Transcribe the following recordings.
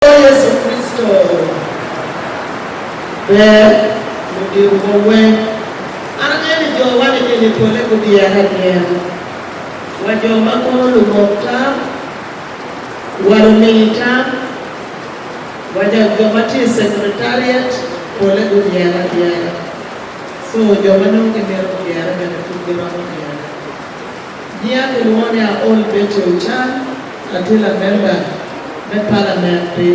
Kor Yecu Kricito ber ludito wa weng. An angeyo ni jo wa nining i pole gudyere adyera. Wa jo ma kono lumok tam, wa lumini tam, wa ja jo ma tye i secretariat pole gudyere adyera. So jo ma nongo gimito gudyere bene pud giromo dyere. Nyinga kilwongo ni Aol Betty Ochan, atye lamemba me palament pi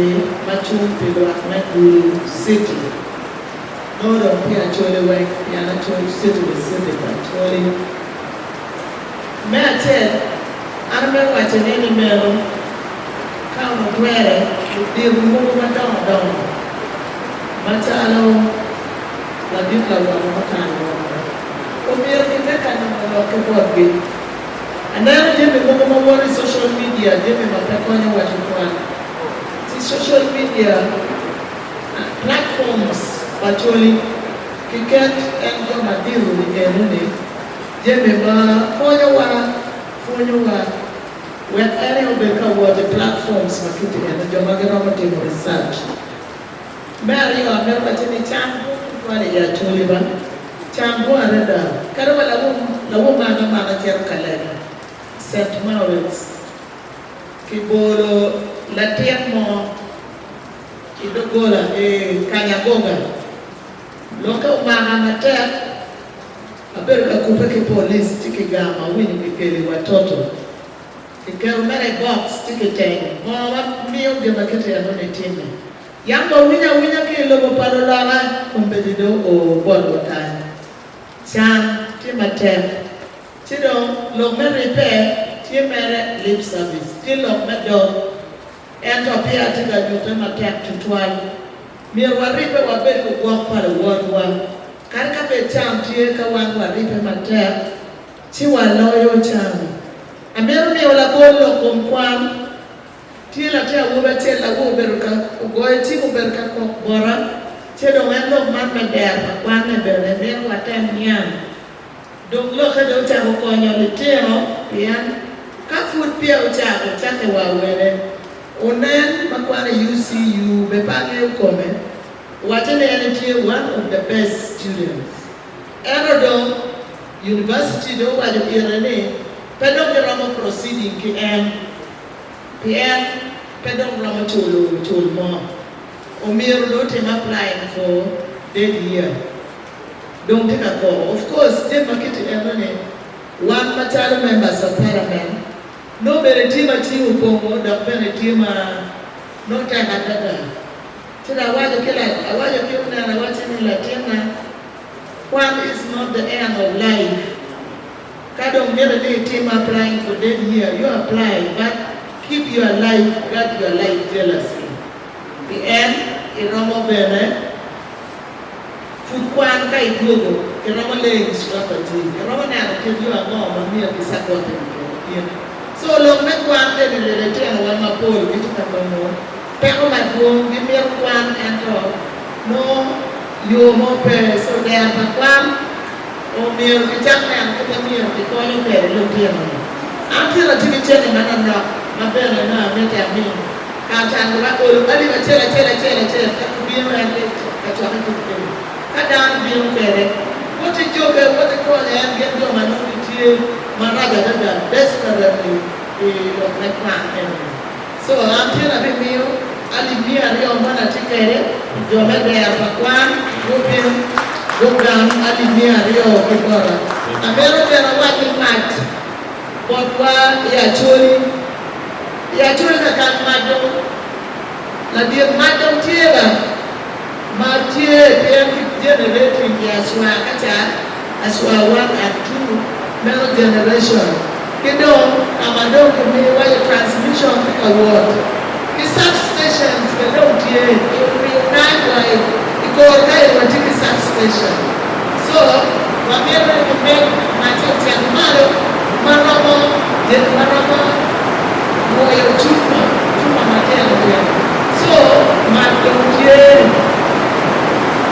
ma cung pi lwak me Gulu City. Nongo dong tye Acholi weng pien Achol City the City of Acholi. Me acel, an amito waco ni nimeno ka onongo twere ludito mogo madongo dongo macalo ladit lawot ma okato woko, Omyero kimed ka nongo lok ki botgi. Aneno jami mogo ma woto i social media, jami ma pe konyo waco kwan. Ci social media platforms pa coli kiket en jo madito i eno ni jami ma konyowa, pwonyowa wek en aye obed ka wot i platforms ma kiti eno, jo ma giromo timo research. Me aryo, amito wacci ni can bwong tutwal i Acholiba. Can bwong adada. Kadi wa lawum, lawum mo ame ma ame cito ka leb Saint Maurits, kibolo latin mo i doggola i Kanyagoga. Lwokke omaka matek, abedo ka kubbe ki police ci kigamo, awinyo kikelo i Watoto, kiketo mere i box ci kiteno. Ngo ma miyo gin ma kit enoni timme? Yam wawinya awinya ki i lobo pa luloka, kombeddi dong oo botwa kany. Can tye matek, ci dong lok me ribbe tye mere lip service ki lok me dog. Ento peya atye ka nyutte matek tutwal. Myero waribbe wabed lugwok pa luwotwa. Kadi ka bed can tye, ka wan waribbe matek, ci waloyo can. Amito miyo labol lok kom kwan. Tye latin awobi acel lago obedo ka ogoyo cim obedo ka kok bota ce dong en lok man me dero pa kwanne bene mito watem niang dong lokke dong ocako konyo litino pien ka pud peya ocako cake wa wene onen ma kwane i UCU be pe angeyo kome wace ni en etye one of the best students ento dong University dong owaco ite ni pe dong giromo proceeding ki en. pien pe dong romo culo cul mo. Omyero dong otim apply in four dead year. Dong tye ka koko of course tye ma kiti eno ni wan macalo members of parliament nongo bene tye ma cing opongo dok bene tye ma nongo tek adada. Ci dong awaco ki la awaco ki onera wacci ni latinna kwan is not the end of life. Ka dong mitte ni itim applying for dead year, you apply but keep your life, guard your life jealously. Pien iromo bene pud kwan ka idwogo, iromo leng i sura pa Jim, iromo neno kit yo ango ma myero gicakotte i kine. So lok me kwan bene leletyenowa mapol gitye ka nongo. Peko madwong gimito kwan ento nongo yo mo pe. So dero pa kwan omyero gicak neno kit ma myero gikonyo kwede lutino-ni. An tyeka tye ki cente manonok ma bene nongo amiti ami. Kare canggi ba olo alip acel acel acel acel ka gubino en ni ka cokke ki kweyo. Ka dano bino kwede, woti joke, woti konyo en gin jo ma nongo gitye marac adada, desperately, i lok me kwan eno-ni. Co acel abimiyo alip miya aryo ma an atye kwede pi jo me dera pa kwan mo bino dok gang alip miya aryo ki bota. Amito bene awac ni mac botwa i Acholi. I Acholi kakak mac dong ladit mac dong tye la. Mar tye pien ki generatory pi aswa ka cat, aswa one and two, meno generation, ki dong ka ma dong ki miyo waco transmission tye ka wot, ki substations bene dong tye, i omiyo nine wa i kor kayo watye ki substation. So, wamito ni wubed ma cocek malo ma romo bedo ma romo nwoyo cukwa, cukwa matino twero. So, man dong tye ni,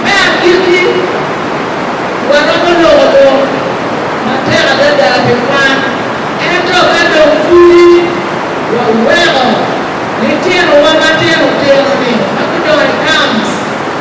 me agikki, waromo loko lok matek adada pi kwan. Ento ka dong pudi waweko litinowa matino tino-ni ma gudongo i camps,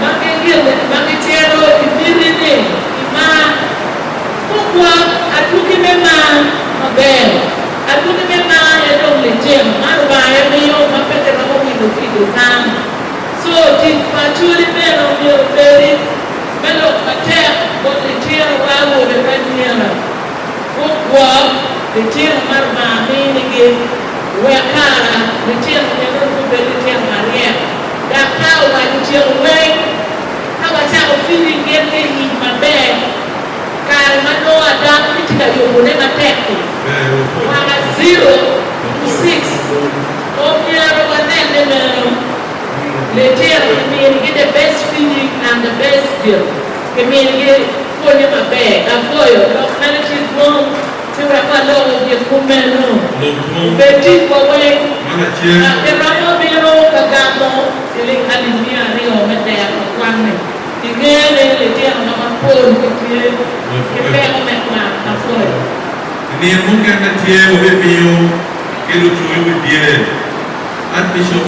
ma gitito i miti ni kimar. Kogwok adwogi me mar maber. Adwogi me mar aye dong licen ma Lubanga aye miyo ma pe kiromo wilo ki i dukan. Co tic pa acoli bene omyero obedi me lok matek bot litinowa awobe ki anyira. Gugwok litino ma Lubanga minigi wek kara litino meno nongo bed litino maryek. Dok ka owaco tyeko weng, ka wacako feeding gin ki i nying maber, kare ma nongo Adam ki tye ka yobone matek-ki, mwaka zero ki six, omyero wanen ni meno litino kiminigi the best feeding and the best, kiminigi pwonye maber, laboyo, lok meno tye dwong. Ci wek aloko gin kumeno obed ticwa weng, ka kiromo bino ka gamo ciling alip miya aryo me tero ka kwanni, ingeyo ni litinowa mapol gitye ki peko me kwan mapol. I nino mukene tye wabimiyo ki lucoyo pi dyere, an Bishop.